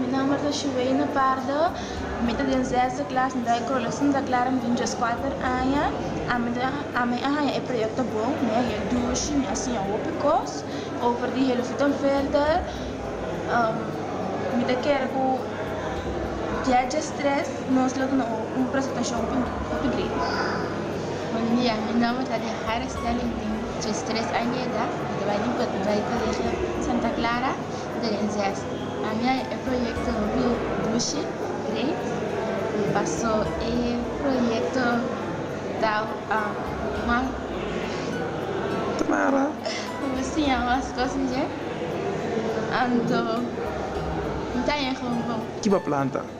Mi nomber ta Shuweina Pardo, mi ta den zesde klas, mi ta e kolo Santa Klara, mi tin djes kuater aña, ami ta ami a haña e proyekto bon, mi a haña dushi, mi a siña hopi kos over di Helofutenfelder, mi ta kere ku di a djes tres nos lo duna un presentashon hopi hopi great. Buen dia, mi nomber ta Diahara Stelling, mi tin. Djes tres aña di edat mi ta bai den poti bai Colegio Santa Clara de Renzers. Pa mi ai e proyecto Rio Dushi great paso e proyecto tau mas Tamara. Mi por siña mas cos di dje anto mi ta yega un bon. Kiba planta?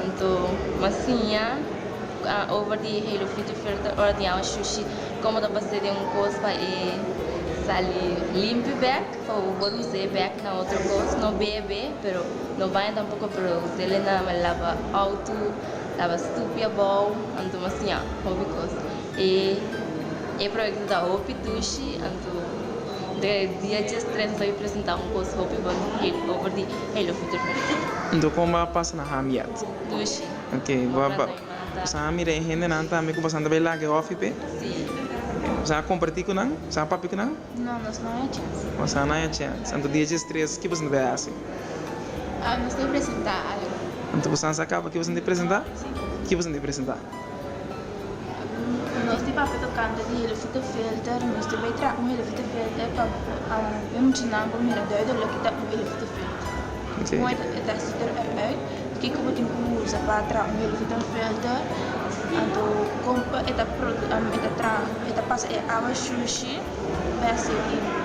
Anto m'a siña cu a over di e halo frigifer ta ordiña un shushi como ta base den un cos pa e sali limpi bek, pa bo por usa e bek na otro cos, no bebe pero no baña tampoco pero usa'l e na lava auto, lava stupi abao, anto m'a siña hopi cos. E e proyecto ta hopi dushi, anto dje dia djes tres m'a pudi presenta un cos hopi bon over di Hey lo futur por di Dina. Nto kon bo a pasa na hamiat? Dushi. Ok, bo a ba boso a mira e hendenan tambe ku boso a tabay laga e hofi p'e? Si. Boso a komparti ku nan? Boso a papia ku nan? No, nos no haya chens. Boso a no haya chens. Anto dia dje stres ki boso a tabay hasi? Nos ta presenta algu. Anto boso a sa kaba ki boso a tabay presenta? Si. Ki boso a tabay presenta? Nos tin papia tocante di helofita filter, nos tin bay traha un helofita filter pa bay mucha nan pa mira dor dor lo ke ta un helofita filter. Como e ta e sitter eruit, kiko bo tin cu usa pa traha un helofita filter, anto como e ta e ta traha e ta pasa e agua shushi, bay a ser limpio.